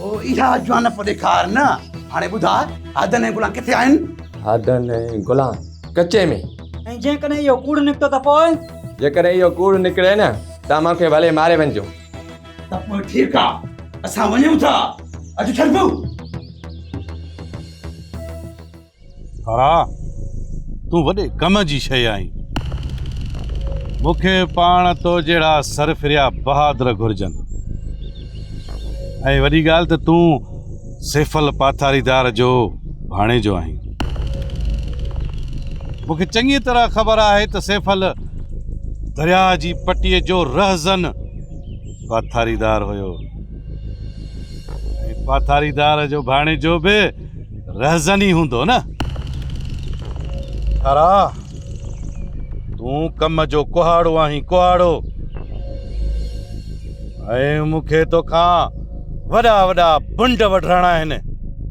او اها جوانپ ڏيکار نه هاڻي ٻڌاء هادن ۽ گلان ڪٿي آهن؟ هادن ۽ گلان ڪچي ۾. ۽ جيڪڏهن اهو ڪوڙ نڪتو ته پوء؟ جيڪڏهن اهو ڪوڙ نڪري نه ته مون کي ڀلي ماري وڃجو. ته پوء ٺيڪ آ اسان وڃون ٿا. اچ ڇڏبو. ڀاء تون وڏي ڪم جي شيء آهين. مون کي پاڻ تو جهڙا سرفريا بهادر گهرجن. ۽ وڏي ڳالهه ته تون سيفل پاٿاريدار جو ڀاڻيجو آهين. مون کي چڱيء طرح خبر آهي ته سيفل درياء جي پٽيء جو رهزن پاٿاريدار هيو ۽ پاٿاريدار جو ڀاڻيجو به رهزن ئي هوندو نه. ٿرا، تون ڪم جو ڪهاڙو آهين ڪهاڙو. ۽ مون کي توکان وڏا وڏا بنڊ وڍرائڻا آهن.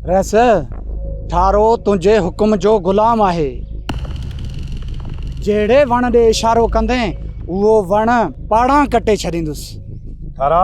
رهس، ٿارو تنهنجي حڪم جو غلام آهي. جهڙي وڻ ڏي اشارو ڪندين اهو وڻ پاڙان ڪٽي ڇڏيندس. ٿرا!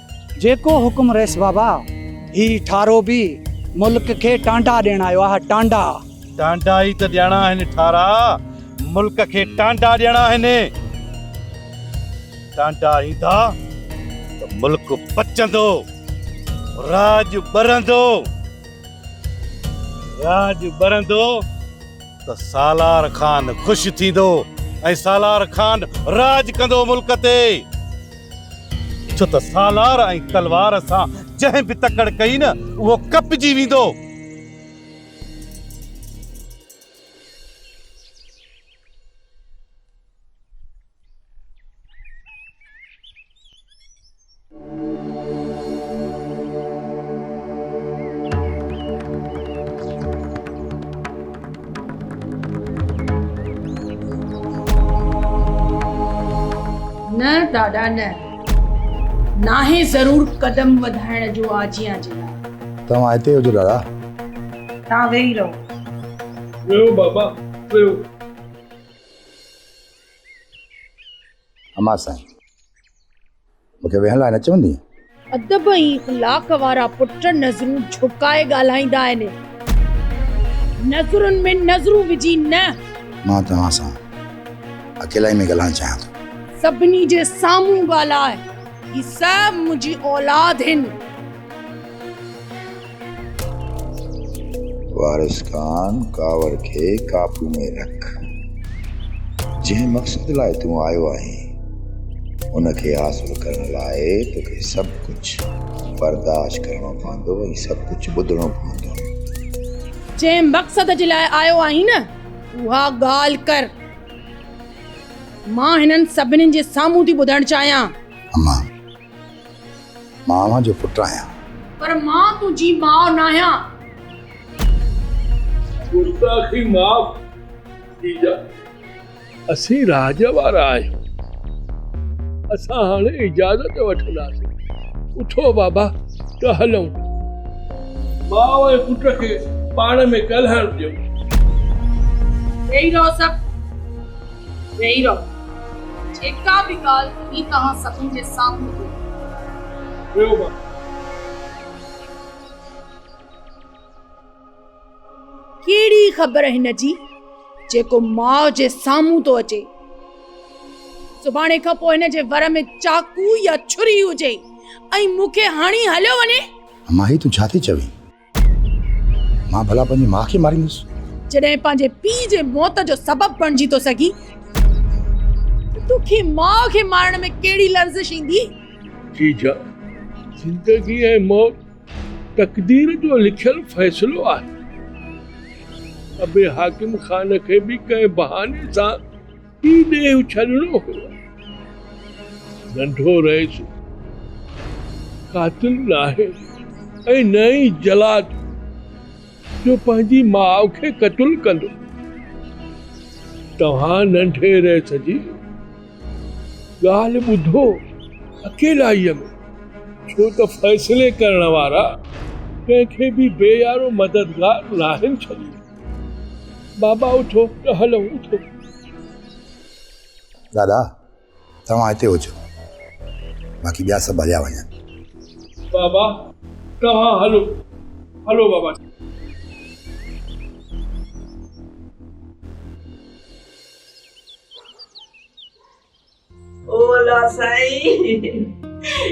جيڪو حڪم رئيس بابا هي ٺارو به ملڪ کي ٽانڊا ڏيڻ آيو آهي ٽانڊا. ٽانڊا ئي ته ڏيڻا آهن ٺارا ملڪ کي ٽانڊا ڏيڻا آهن ٽانڊا ايندا ته ملڪ پچندو راڄ ٻرندو راڄ ٻرندو. ته سالار خان خوش ٿيندو ۽ سالار خان راڄ ڪندو ملڪ تي. ڇو ته سالار ۽ تلوار سان جنهن به تڪڙ ڪئي نه اهو ڪپجي ويندو. نه ڏاڏا نه. ناهي ضرور قدم وڌائڻ جو آجيان جي لاء. توهان هتي هجو ڏاڏا. توهان ويهي رهو. ويهو بابا ويهو. امان سائين. مونکي ويهڻ لاء نه چوندين. ادب ۽ اخلاق وارا پٽ نظرون جهڪائي ڳالهائيندا آهن. نظرن ۾ نظرون وجهي نه. مان توهان سان اڪيلائي ۾ ڳالهائڻ چاهيان ٿو. سڀني جي سامهون ڳالهاء. هي سڀ منهنجي اولاد هن. وارث خان ڪاوڙ کي قابو ۾ رک. جنهن مقصد لاء تون آيو آهين، ان کي حاصل ڪرڻ لاء توکي سڀ ڪجهه برداشت ڪرڻو پوندو ۽ سڀ ڪجهه ٻڌڻو پوندو. جنهن مقصد جي لاء آيو آهين نه، اها ڳالهه ڪر. مان هنن سڀني جي سامهون ٿي ٻڌڻ چاهيان. امان مان اوهان جو پٽ آهيان. پر مان تنهنجي ماء ناهيان. گستاخي معاف جيجا. اسين راڄ وارا آهيون. اسان هاڻي اجازت وٺنداسين. اٿو بابا ته هلون. ماء ۽ پٽ کي پاڻ ۾ ڳالهائڻ ڏيو. ويهي رهو سڀ ويهي رهو. جيڪا به ڳالهه هي توهان سڀن جي سامهون ٿو رهيو مان. ڪهڙي خبر هن جي جيڪو ماء جي سامهون ٿو اچي. سڀاڻي کان پوء هن جي ور ۾ چاقو يا ڇري هجي ۽ مون کي هڻي هليو وڃي. اماهي تون ڇا ٿي چوين؟ مان ڀلا پنهنجي ماء کي ماريندس. جڏهن پنهنجي پيء جي موت جو سبب بڻجي ٿو سگهين ته تو کي ماء کي مارڻ ۾ ڪهڙي لرزش ايندي؟ جيجا، زندگي ۽ موت تقدير جو لکيل فيصلو آهي. ابي حاڪم خان کي به ڪنهن بهاني سان هي ڏيهه ڇڏڻو هو. ننڍو رئيس قاتل ناهي ۽ نه ئي جلاد جو پنهنجي ماء کي قتل ڪندو. توهان ننڍي رئيس جي ڳالهه ٻڌو اڪيلائيء ۾، ڇو ته فيصلي ڪرڻ وارا ڪنهن کي به بي يارو مددگار ناهن ڇڏيندا. بابا اٿو ته هلون اٿو. دادا توهان هتي هجو باقي ٻيا سڀ هليا وڃن. بابا توهان هلو هلو بابا. او الله سائين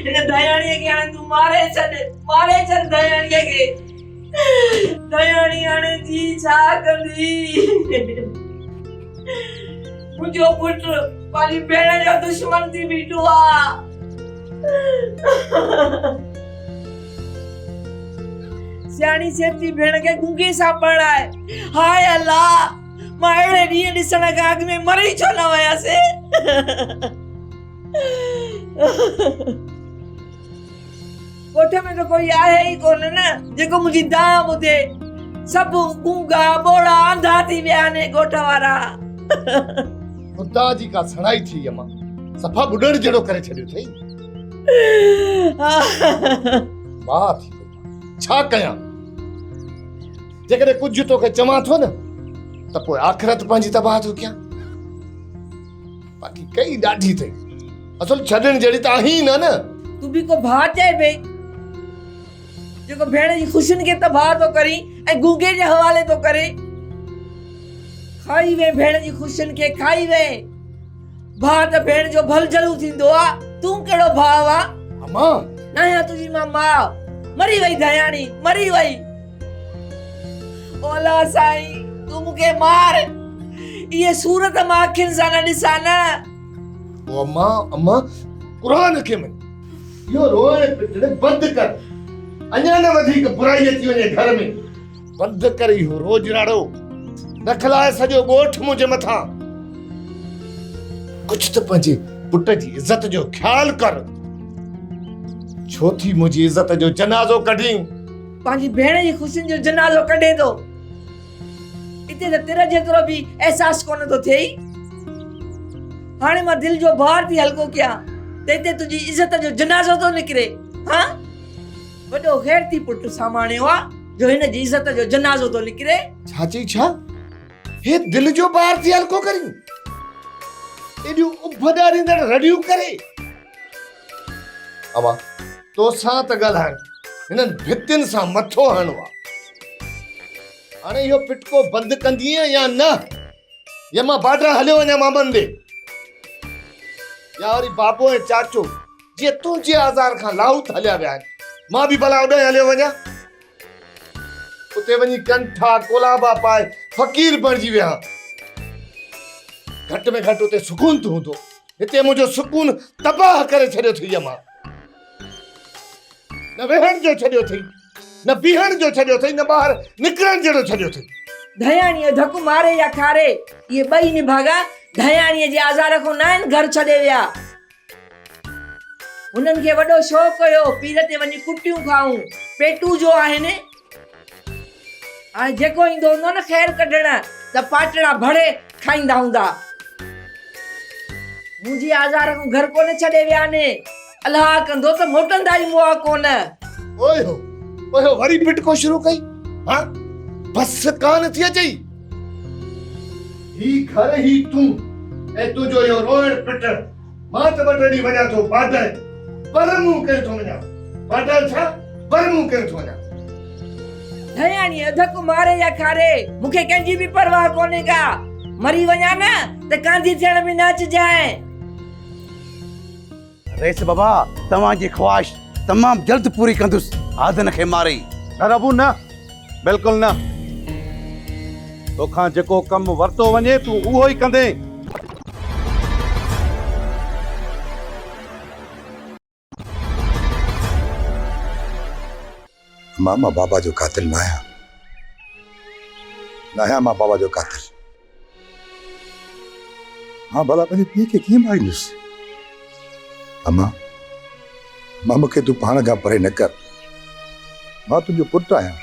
هن ڌياڻيء کي هاڻي تون ماري ڇڏ ماري ڇڏ ڌياڻيء کي ڌياڻي هاڻي جي ڇا ڪندي منهنجو پٽ پنهنجي ڀيڻ جو دشمن ٿي بيٺو آ سياڻي سيبجي ڀيڻ کي گونگي سان پرڻائي هاء الله مان اهڙي ڏينهن ڏسڻ کان اڳ ۾ مري ڇو نه وياسي ڳوٺ ۾ ته ڪوئي آهي ئي ڪونه نه جيڪو منهنجي دانهن ٻڌي سڀ گونگا ٻوڙا آنڌا ٿي ويا آهن ڳوٺ وارا خدا جي ڪا سڻائي ٿي اما صفا ٻڏڻ جهڙو ڪري ڇڏيو اٿئي ماء ٿي ڇا ڪيان جيڪڏهن ڪجهه توکي چوان ٿو نه ته پوء آخرت پنهنجي تباهه ٿو ڪيان باقي ڪئي ڏاڍي اٿئي اصل ڇڏڻ جهڙي ته آهي نه نه تون به ڪو ڀاء چئي پئي جيڪو ڀيڻ جي خوشين کي تباهه ٿو ڪري ۽ گونگي جي حوالي ٿو ڪري کائي وئي ڀيڻ جي خوشين کي کائي وئي ڀاء ته ڀيڻ جو ڀل جلو ٿيندو آ، تون ڪهڙو ڀاء آ؟ اما! ناهيان تنهنجي مان ماء، مري وئي ڌياڻي، مري وئي. مولا سائين! تون مون کي مار، اهي سور ته مان اکين سان نه ڏسان نه. او اما، اما! قرآن کي مڃ. اهو روئڻ پٽڻ بند ڪر، اڃا نه وڌيڪ برائي اچي وڃي گهر ۾. بند ڪر اهو روڄناڙو نه کلائي سڄو ڳوٺ منهنجي مٿان ڪجهه ته پنهنجي پٽ جي عزت جو خيال ڪر ڇو ٿي منهنجي عزت جو جنازو ڪڍين پنهنجي ڀيڻ جي خوشين جو جنازو ڪڍي ٿو اتي ته تر جيترو به احساس ڪونه ٿو ٿئي هاڻي مان دل جو بار ٿي هلڪو ڪيان ته هتي تنهنجي عزت جو جنازو ٿو نڪري ها وڏو غيرتي پٽ ساماڻيو آ جو هن جي عزت جو جنازو ٿو نڪري. ڇا چئي ڇا؟ هي دل جو بار ٿي هلڪو ڪرين. ايڏيون اڀ ڏاريندڙ رڙيون ڪري. اما توسان ته ڳالهائڻ هنن ڀتين سان مٿو هڻڻو آ. هاڻي اهو پٽڪو بند ڪندينء يا نه؟ يا مان بارڊر هليو وڃان مامن ڏي. يا وري بابو ۽ چاچو. جي تون جي آزار کان لاهوت هليا ويا آهن مان به ڀلا اوڏانهن هليو وڃان اتي وڃي ڪنٺا ڪولابا پائي فقير بڻجي ويهان گهٽ ۾ گهٽ اتي سڪون ته هوندو هتي منهنجو سڪون تباهه ڪري ڇڏيو اٿئي يما نه ويهڻ جو ڇڏيو اٿئي نه بيهڻ جو ڇڏيو اٿئي نه ٻاهر نڪرڻ جهڙو ڇڏيو اٿئي ڌياڻي جو ڌڪ ماري يا کاري اهي ٻئي نڀاڳا ڌياڻي جي آزار کان نه آهن گهر ڇڏي ويا هنن کي وڏو شوق هيو پير تي وڃي ڪٽيون کائون، پيٽون جو آهن. هاڻي جيڪو ايندو هوندو نه خير ڪڍڻ ته پاٽڙا ڀڙي کائيندا هوندا. منهنجي آزار کان گهر ڪونه ڇڏي ويا آهن. الهه ڪندو ته موٽندا ئي مئا ڪونه. اوهو اوهو وري پٽڪو شروع ڪئي. هاڻ بس ڪانه ٿي اچئي. هي گهر هي تون ۽ تنهنجو اهو روئڻ پٽڻ. مان ته ٻه ٽي ڏينهن وڃان ٿو باڊر پر مون ڪين ٿو وڃان. باڊر ڇا پر مون ڪين ٿو وڃان. ڌياڻي اڌڪ ماري يا کاري مون کي ڪنهن جي به پرواهه ڪونهي ڪا. مري وڃان نه ته ڪانڌي ٿيڻ به نه اچجانء. رئيس بابا توهان جي خواهش تمام جلد پوري ڪندس آدن کي ماري. نه ربو نه بلڪل نه توکان جيڪو ڪم ورتو وڃي تون اهو ئي ڪندين. مان مان بابا جو قاتل ناهيان ناهيان مان بابا جو قاتل مان ڀلا پنهنجي پيء کي ڪيئن ماريندس امان مان مون کي تون پاڻ کان پري نه ڪر مان تنهنجو پٽ آهيان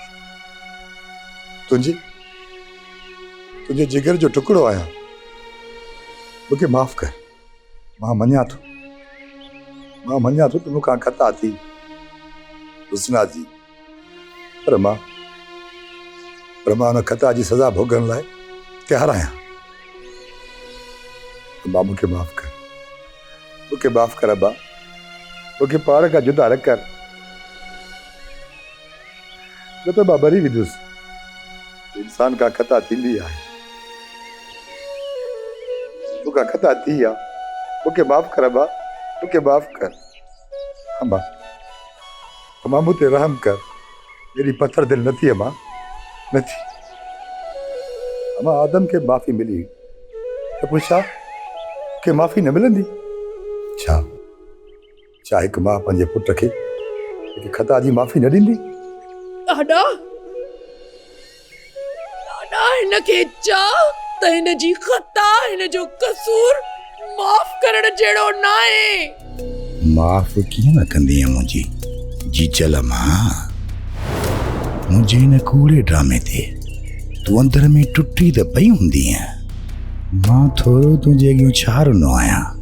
تنهنجي تنهنجي جگر جو ٽڪڙو آهيان مون کي معاف ڪر مان مڃان ٿو، مان مڃان ٿو ته مون کان خطا ٿي حسنا جي، پر مان پر مان ان خطا جي سزا ڀوڳڻ لاء تيار آهيان. ابا مون کي معاف ڪر، مون کي معاف ڪر ابا، مون کي پاڻ کان جدا نه ڪر. نه ته مان مري ويندس. انسان کان خطا ٿيندي آهي. مون کان خطا ٿي آ. مون کي معاف ڪر امان. مون کي معاف ڪر. امان. امان مون تي رحم ڪر. ايڏي پٿر دل نه ٿي امان. نه ٿي. امان آدم کي معافي ملي هئي ته پوء ڇا مون کي معافي نه ملندي ڇا؟ ڇا هڪ ماء پنهنجي پٽ کي هڪ خطا جي معافي نه ڏيندي؟ ڏاڏا ڏاڏا هن کي چا ته هن جي خطا هن جو قصور معاف ڪرڻ جهڙو نه آهي معاف ڪيئن نه ڪندي منهنجي جي چل مان منهنجي هن ڪوڙي ڊرامي تي تون اندر ۾ ٽٽي ته پئي هوندي مان ٿورو تنهنجي اڳيون ڇا رنو آهيان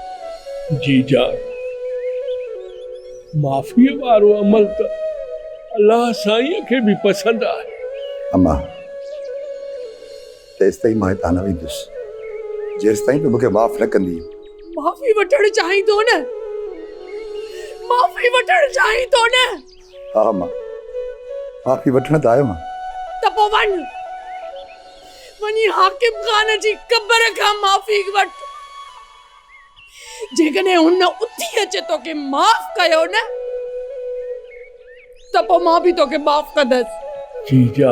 جي جان معافيء وارو عمل ته الله سائينء کي به پسند آهي. اما! تيستائين مان هتان نه ويندس، جيستائين تون مون کي معاف نه ڪندينء. معافي وٺڻ چاهين ٿو نه؟ معافي وٺڻ چاهين ٿو نه؟ ها اما! معافي وٺڻ ته آيم ها. ته پوء وڃ، وڃي حاڪم خان جي قبر کان معافي وٺ. جيڪڏهن هن اٿي اچي توکي معاف ڪيو نه ته پوء مان به توکي معاف ڪندس. جي جا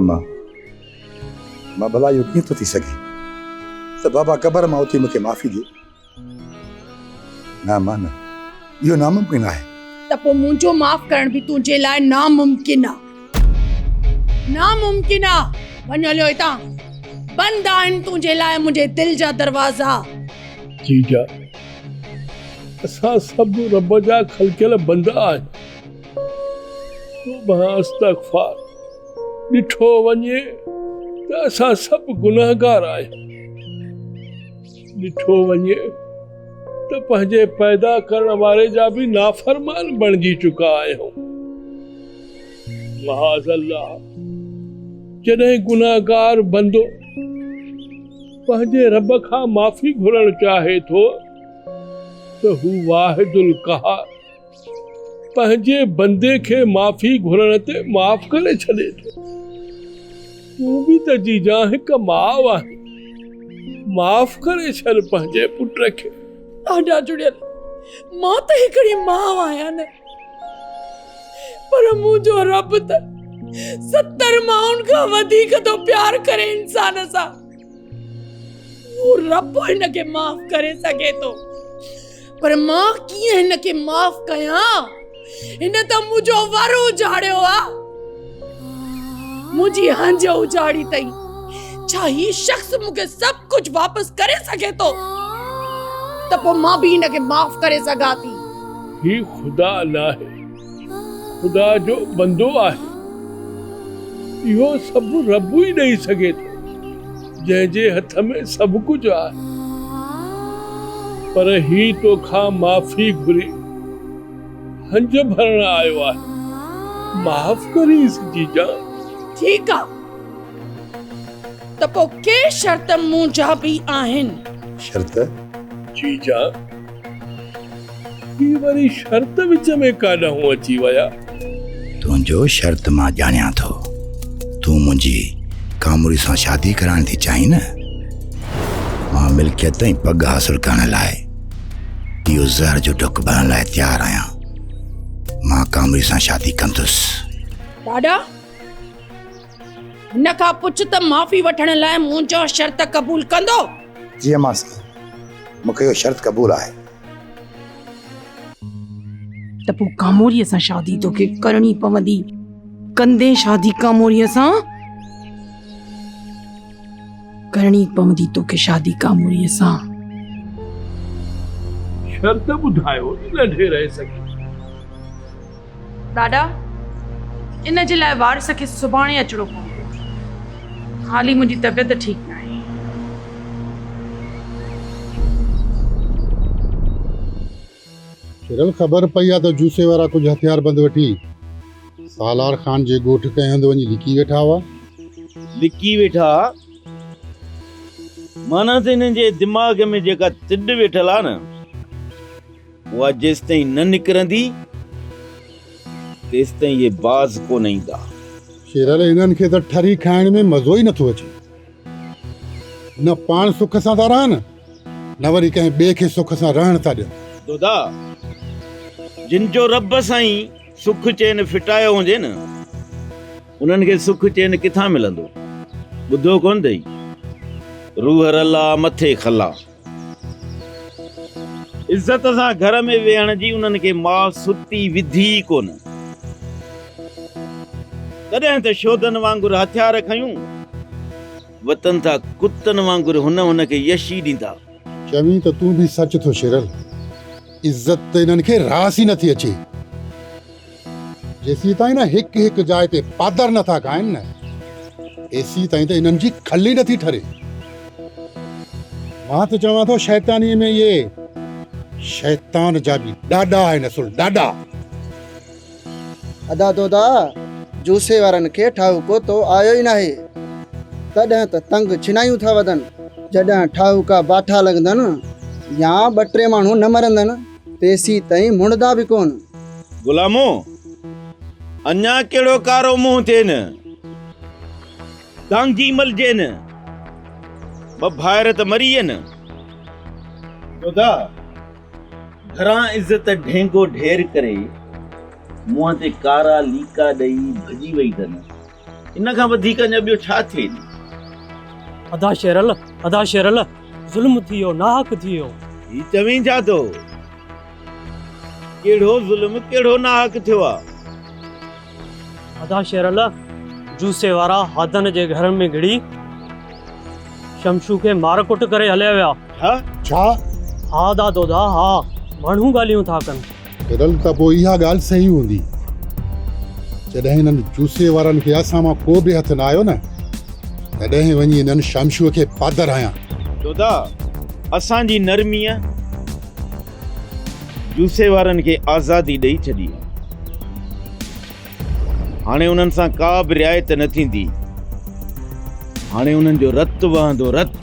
اما مان ڀلا اهو ڪيئن ٿو ٿي سگهي ته بابا قبر مان اٿي مون کي معافي ڏي. نه اما نه. اهو ناممڪن آهي. ته پوء منهنجو معاف ڪرڻ به تنهنجي لاء ناممڪن آ. ناممڪن آ. وڃ هليو هتان. بند آهن تنهنجي لاء منهنجي دل جا دروازا. ٺيڪ آ. اسان سڀ رب جا خلقيل بندا آهيون. توبه استغفار. ڏٺو وڃي ته اسان سڀ گنهگار آهيون. ڏٺو وڃي ته پنهنجي پيدا ڪرڻ واري جا به نافرمان بڻجي چڪا آهيون. معاذ الله جڏهن گنهگار بندو پنهنجي رب کان معافي گهرڻ چاهي ٿو ته هو واحد القهار پنهنجي بندي کي معافي گهرڻ تي معاف ڪري ڇڏي ٿو. تون به ته جيجان هڪ ماء آهين. معاف ڪري ڇڏ پنهنجي پٽ کي. آڏا جڙيل، مان ته هڪڙي ماء آهيان نه. پر منهنجو رب ته ستر مائن کان وڌيڪ ٿو پيار ڪري انسان سان. هو رب هن کي معاف ڪري سگهي ٿو پر مان ڪيئن هن کي معاف ڪيان هن ته منهنجو ور اجاڙيو آ منهنجي هنج اجاڙي تئي ڇا هي شخص مون کي سڀ ڪجهه واپس ڪري سگهي ٿو ته پوء مان به هن کي معاف ڪري سگهان ٿي هي خدا ناهي خدا جو بندو آهي، اهو سڀ رب ئي ڏئي سگهي ٿو، جنهن جي هٿ ۾ سڀ ڪجهه آهي. پر هي تو کان معافي گهري هنج ڀرڻ آيو آهي، معاف ڪرينس جيجان. ٺيڪ آ، ته پوء ڪي شرط مون جا به آهن. شرط؟ جيجان! هي وري شرط وچ ۾ ڪاڏانهون اچي ويا؟ تنهنجو شرط مان ڄاڻيان ٿو. تون منهنجي ڪاموري سان شادي ڪرائڻ ٿي چاهين نه؟ مان ملڪيت ۽ پڳ حاصل ڪرڻ لاء اهو زهر جو ڍڪ ڀرڻ لاء تيار آهيان. مان ڪاموري سان شادي ڪندس. ڏاڏا! هن کان پڇ ته معافي وٺڻ لاء منهنجو شرط قبول ڪندو؟ جي امان سائين، مون کي اهو شرط قبول آهي. ته پوء ڪاموريء سان شادي توکي ڪرڻي پوندي. ڪندين شادي ڪاموريء سان؟ ڪرڻي پوندي توکي شادي ڪاموريء سان. شرط ٻڌايو نه ڍيرئي سگهي. ڏاڏا، ان جي لاء وارث کي سڀاڻي اچڻو پوندو. هال ئي منهنجي طبيعت ٺيڪ ناهي. ڇرل خبر پئي آ ته جوسي وارا ڪجهه هٿياربند وٺي سالار خان جي ڳوٺ ڪنهن هنڌ وڃي لڪي ويٺا هئا. لڪي ويٺا هئا معنيٰ ته انهن جي دماغ ۾ جيڪا تڏ ويٺل آ نه. اها جيستائين نه نڪرندي، تيستائين اهي باز ڪونه ايندا. شيرل، انهن کي ته ٺري کائڻ ۾ مزو ئي نٿو اچي. نه پاڻ سک سان ٿا رهن، نه وري ڪنهن ٻئي کي سک سان رهڻ ٿا ڏين. دادا، جن جو رب سائين سک چين ڦٽايو هجي نه، انهن کي سک چين ڪٿان ملندو؟ ٻڌو ڪونه اٿئي، روح رلا، مٿي خلا. عزت سان گهر ۾ ويهڻ جي انهن کي ماء ستي وڌي ئي ڪونه. تڏهن ته شودن وانگر هٿيار کنيون وتن ٿا، ڪتن وانگر هن هن کي يشي ڏيندا. چوين ته تون به سچ ٿو شيرل. عزت ته انهن کي راس ئي نٿي اچي. جيسيتائين نه هڪ هڪ جاء تي پادر نه ٿا ڳائن نه تيسيتائين ته انهن جي کل ئي نه ٿي ٺري. مان ته چوان ٿو شيطانيء ۾ اهي شيطان جا به ڏاڏا آهن اصل ڏاڏا. ادا تو ته جوسي وارن کي ٺاهوڪو تو آيو ئي ناهي تڏهن ته تنگ ڇنايون ٿا وڌن. جڏهن ٺاهوڪا باٺا لڳندن يا ٻه ٽي ماڻهو نه مرندن. پيسي تئين مڙدا به ڪون. غلامو! اڃا ڪهڙو ڪارو منهن ٿين، دانگي ملجين، ٻه ڀائر ته مري وين. خدا! گهران عزت ڍينگو ڍير ڪري منهن تي ڪارا ليڪا ڏئي ڀڄي وئي ته نه؟ ان کان وڌيڪ اڃا ٻيو ڇا ٿئي ڏي. ادا شيرل ادا شيرل ظلم ٿيو ناحق ٿيو. هي چوين ڇا ٿو ڪهڙو ظلم ڪهڙو ناحق ٿيو آ. ادا شيرل جوسي وارا هادن جي گهر ۾ گهڙي شمشو کي مار ڪٽ ڪري هليا ويا. ها ڇا. ها ادا دودا ها ماڻهو ڳالهيون ٿا ڪن. تڏھن ته پوء اھا ڳالھه صحيح ھوندي جڏھن ھنن جوسي وارن کي اسان مان ڪو به ھٿ نه آيو نه تڏھن وڃي ھنن شمشوء کي پادر ھنيان. جوڌا اسان جي نرميء جوسي وارن کي آزادي ڏئي ڇڏي آھي. ھاڻي انھن سان ڪا به رعايت نه ٿيندي. ھاڻي انھن جو رت وھندو رت.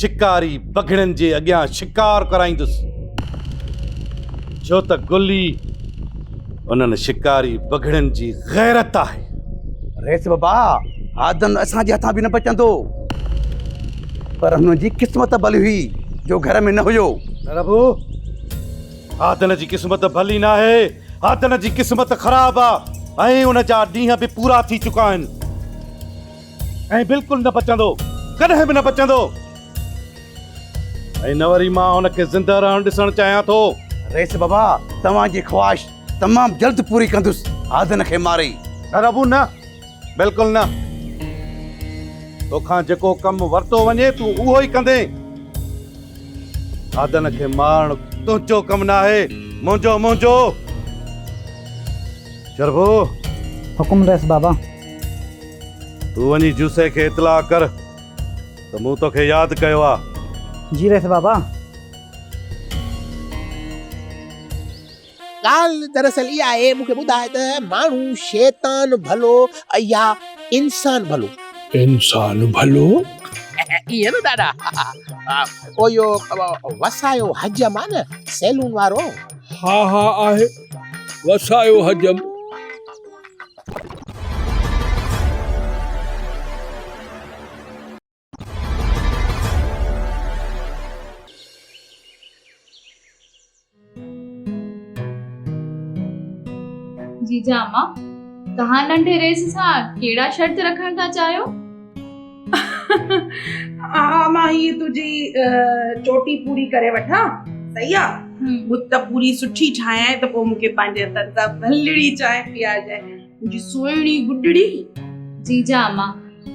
شڪاري بگهڙن جي اڳيان شڪار ڪرائيندس، ڇو ته گلي انهن شڪاري بگهڙن جي غيرت آهي. رئيس بابا، هادن اسان جي هٿان به نه بچندو، پر هن جي قسمت ڀلي هئي جو گهر ۾ نه هيو. نه ربو، هادن جي قسمت ڀلي ناهي، هادن جي قسمت خراب آهي ۽ ان جا ڏينهن به پورا ٿي چڪا آهن. ۽ بلڪل نه پچندو، ڪڏهن به نه پچندو. ۽ نه وري مان هن کي زنده رهڻ ڏسڻ چاهيان ٿو. رئيس بابا، توهان جي خواهش تمام جلد پوري ڪندس، آڌن کي ماري. نه ربو نه، بلڪل نه. تو کان جيڪو ڪم ورتو وڃي تون اهو ئي ڪندين. آڌن کي مارڻ تنهنجو ڪم ناهي، منهنجو، منهنجو. شربو. حڪم رئيس بابا. تون وڃي جوسي کي اطلاع ڪر ته مون توکي ياد ڪيو آ. جي رئيس بابا. ڳالهه دراصل اها آهي مون کي ٻڌاء ته ماڻهو شيطان ڀلو يا انسان ڀلو؟ انسان ڀلو. ائين نه ڏاڏا. او اهو وسايو حجم آ نه سيلون وارو. ها ها آهي وسايو حجم. جيجا امان توهان ننڍي رئيس سان ڪهڙا شرط رکڻ ٿا چاهيو اها مان هي تنهنجي چوٽي پوري ڪري وٺان صحيح آ بت پوري سٺي ٺاهيان ته پوء مونکي پنهنجي هٿن سان ڀلڙي چانهه پيارجانء منهنجي سهڻي گڊڙي جي جا اما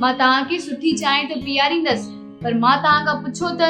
مان توهان کي سٺي چانهه ته پياريندس پر مان توهان کان پڇو ته.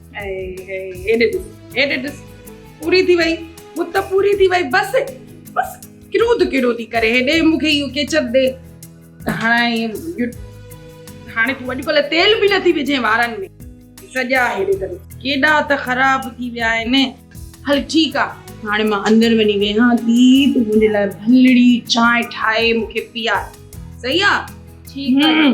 هيڏي ڏس هيڏي ڏس پوري ٿي وئي بت پوري ٿي وئي بس بس ڪرو ته ڪرو ٿي ڪري هيڏي مونکي اهو ڪيچر ڏي هاڻي هاڻي تون اڄڪلهه تيل به نٿي وجهين وارن ۾ سڄا هيڏي ته ڪيڏا ته خراب ٿي ويا آهن هل ٺيڪ آهي هاڻي مان اندر وڃي ويهان ٿي تون منهنجي لاء ڀلڙي چانهه ٺاهي مونکي پيا صحيح آهي ٺيڪ آهي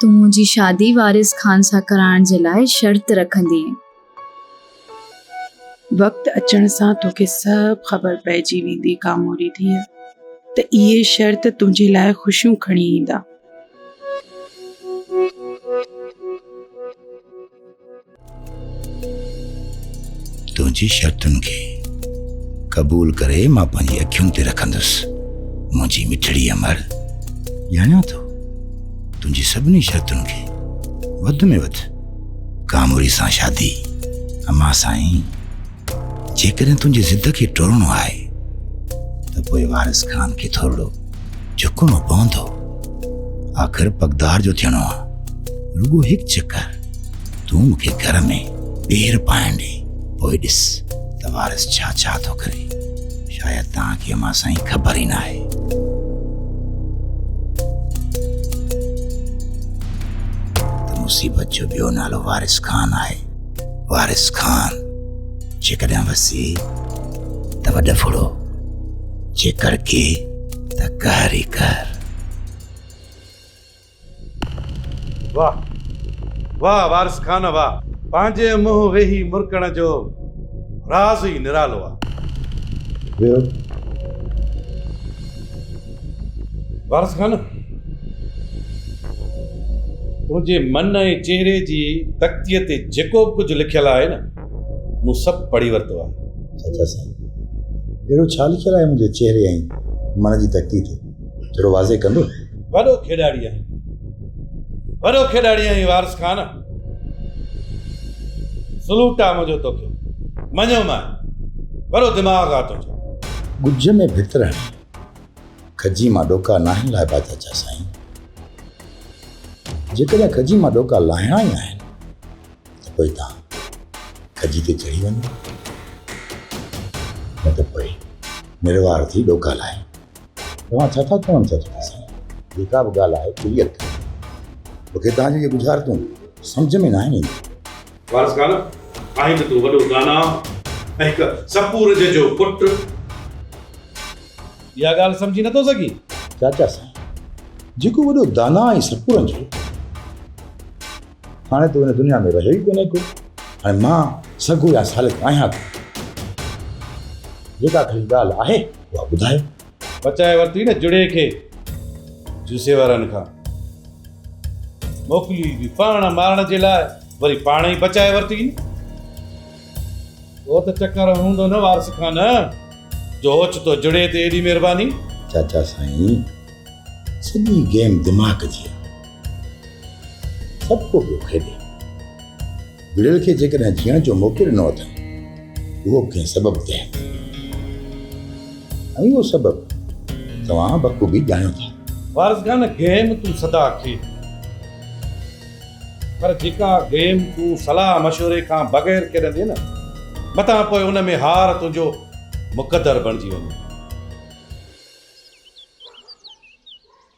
تون منهنجي شادي وارث خان سان ڪرائڻ جي لاء شرط رکندينء. وقت اچڻ سان توکي سڀ خبر پئجي ويندي ڪاموري ڌيء ته اهي شرط تنهنجي لاء خوشيون کڻي ايندا. تنهنجي شرطن کي قبول ڪري مان پنهنجي اکين تي رکندس منهنجي مٺڙي امر ڄاڻيو ٿو تنهنجي سڀني شرطن کي وڌ ۾ وڌ ڪاموري سان شادي امان سائين جيڪڏهن تنهنجي ضد کي ٽرڻو آهي ته پوء وارث خان کي ٿورڙو جھڪڻو پوندو آخر پگدار جو ٿيڻو آ رڳو هڪ چڪر تون مون کي گھر ۾ پير پائڻ ڏي پوء ڏس ته وارث ڇا ڇا ٿو ڪري شايد توهان کي امان سائين خبر ئي ناهي ته مصيبت جو ٻيو نالو وارث خان آهي وارث خان جيڪڏهن وسي ته وڏ ڦڙو جي ڪرڪي ته قهر ئي قهر واهه واهه وارث خان واهه پنهنجي منهن ويهي مرڪڻ جو راز ئي نرالو آهي ٻيو وارث خان تنهنجي من ۽ چهري جي تختيء تي جيڪو به ڪجهه لکيل آهي نه مون سڀ پڙهي ورتو آهي. چاچا سائين اهڙو ڇا لکيل آهي منهنجي چهري ۽ من جي تختي تي ٿورو واضح ڪندو. وڏو کيڏاڙي آهين وڏو کيڏاڙي آهين وارث خان سلوٽ آهي منهنجو توکي مڃيو مان وڏو دماغ آهي تنهنجو. ڳجهه ۾ ڀت رهڻ. کجي مان ڏوڪا ناهن لائبا چاچا سائين جيڪڏهن کجي مان ڏوڪا لاهڻا ئي آهن ته پوء تان کجي تي چڙهي وڃو نه ته پوء نروار ٿي ڏوڪا لاهي توهان ڇا ٿا چون چاچا سائين جيڪا به ڳالهه آهي کليل ڪري مونکي تان جي ڳجهارتون سمجهه ۾ ناهن اينديون وارث خان، آهين ته تون وڏو داناء ۽ هڪ سپورجهه جو پٽ. اها ڳالهه سمجهي نٿو سگهين؟ چاچا سائين، جيڪو وڏو داناء ۽ سپورجهه هو، هاڻي ته هو هن دنيا ۾ رهيو ئي ڪونهي ڪو. هاڻي مان سگهو يا سالڪ آهيان ڪو؟ جيڪا ڪا ڳالهه آهي، اها ٻڌايو. بچائي ورتي نه جڙي کي جوسي وارن کان موڪلي به پاڻ مارڻ جي لاء وري پاڻ ئي بچائي ورتي نه او ته چڪر هوندو نه وارث کان نه جو اوچتو جڙي تي ايڏي مهرباني. چاچا سائين سڄي گيم دماغ جي آ سڀڪو پيو کيڏي. گڙيل کي جيڪڏهن جيئڻ جو موقعو ڏنو اٿن اهو به ڪنهن سبب تحت ۽ اهو سبب توهان بخوبي ڄاڻيو ٿا. وارث خان گيم تون سدا کي پر جيڪا گيم تون صلاح مشوري کان بغير کيڏندين نه متان پوء ان ۾ هار تنهنجو مقدر بڻجي وڃي.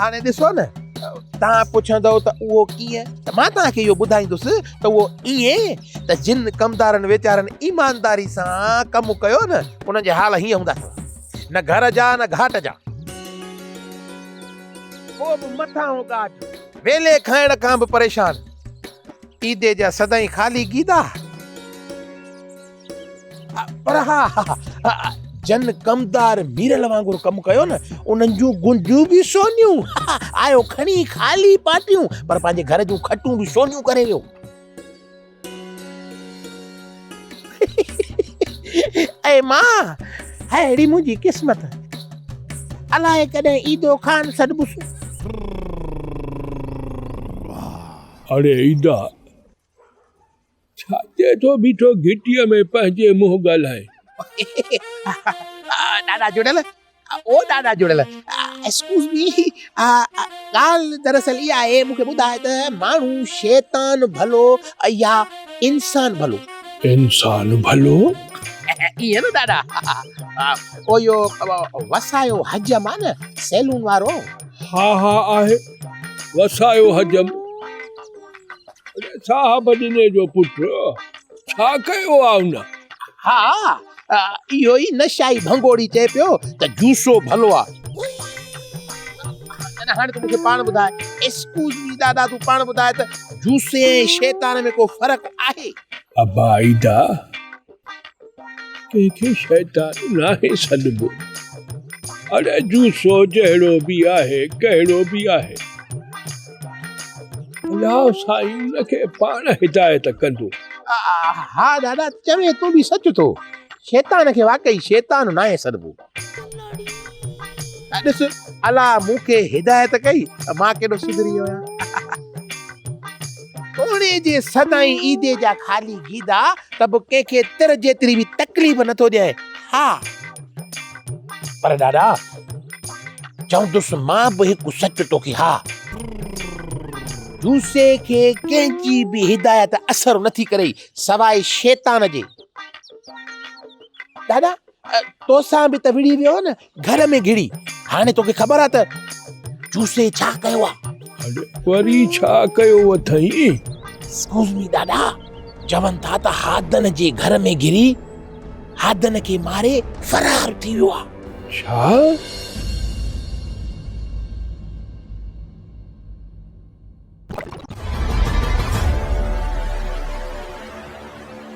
هاڻي ڏسو نه توهان پڇندؤ ته اهو ڪيئن ته مان توهان کي اهو ٻڌائيندس ته اهو ائين ته جن ڪمدارن ويچارن ايمانداري سان ڪم ڪيو نه انهن جا حال هيئن هوندا اٿو نه گهر جا نه گهاٽ جا ڪو به مٿانهون ڳاٽ ويلي کائڻ کان به پريشان عيدي جا سدائين خالي گيدا. پر ها جن ڪمدار ميرل وانگر ڪم ڪيو نه انهن جون گنجون به سونيون آيو کڻي خالي پاٽيون پر پنهنجي گهر جون کٽون به سونيون ڪري ويو اي ماء اهڙي منهنجي قسمت الائي ڪڏهن عيدو خان سڏبس اڙي عيدا ڇاتي ٿو بيٺو گهٽيء ۾ پنهنجي منهن ڳالهائي. ڏاڏا جڙيل او ڏاڏا جڙيل ايڪسڪيوز مي ڳالهه دراصل اها آهي مون کي ٻڌاء ته ماڻهو شيطان ڀلو يا انسان ڀلو؟ انسان ڀلو. ائين نه ڏاڏا او اهو وسايو حجم آهي نه سيلون وارو. ها ها آهي وسايو حجم. صاحب جني جو پٽ ڇا ڪيو آ ان؟ ها اهو ئي نشائي ڀنگوڙي چئي پيو ته جوسو ڀلو آ. تڏهن هاڻي تون مون کي پاڻ ٻڌاء. ايڪسڪيوز مي دادا تون پاڻ ٻڌاء ته جوسي ۽ شيطان ۾ ڪو فرق آهي؟ ابا عيدا ڪنهن کي شيطان ناهي سڏبو. اڙي جوسو جهڙو به آهي ڪهڙو به آهي. الله سائين ان کي پاڻ هدايت ڪندو. ها ڏاڏا چوين تون به سچ ٿو شيطان کي واقعي شيطان ناهي سڏبو. ڏس الله مون کي هدايت ڪئي ته مان ڪيڏو سڌري ويو آهيان توڙي جي سدائين عيدي جا خالي گيدا ته به ڪنهن کي تر جيتري به تڪليف نٿو ڏيان ها پر ڏاڏا چوندس مان به هڪ سچ توکي ها جوسي کي ڪنهن جي به هدايت اثر نٿي ڪري سواء شيطان جي ڏاڏا توسان به ته وڙهي ويو نه گهر ۾ گهڙي هاڻي توکي خبر آ ته چوسي ڇا ڪيو آ وري ڇا ڪيو اٿئي اسڪوز مي ڏاڏا چون ٿا ته هادن جي گهر ۾ گهري هادن کي ماري فرار ٿي ويو آ ڇا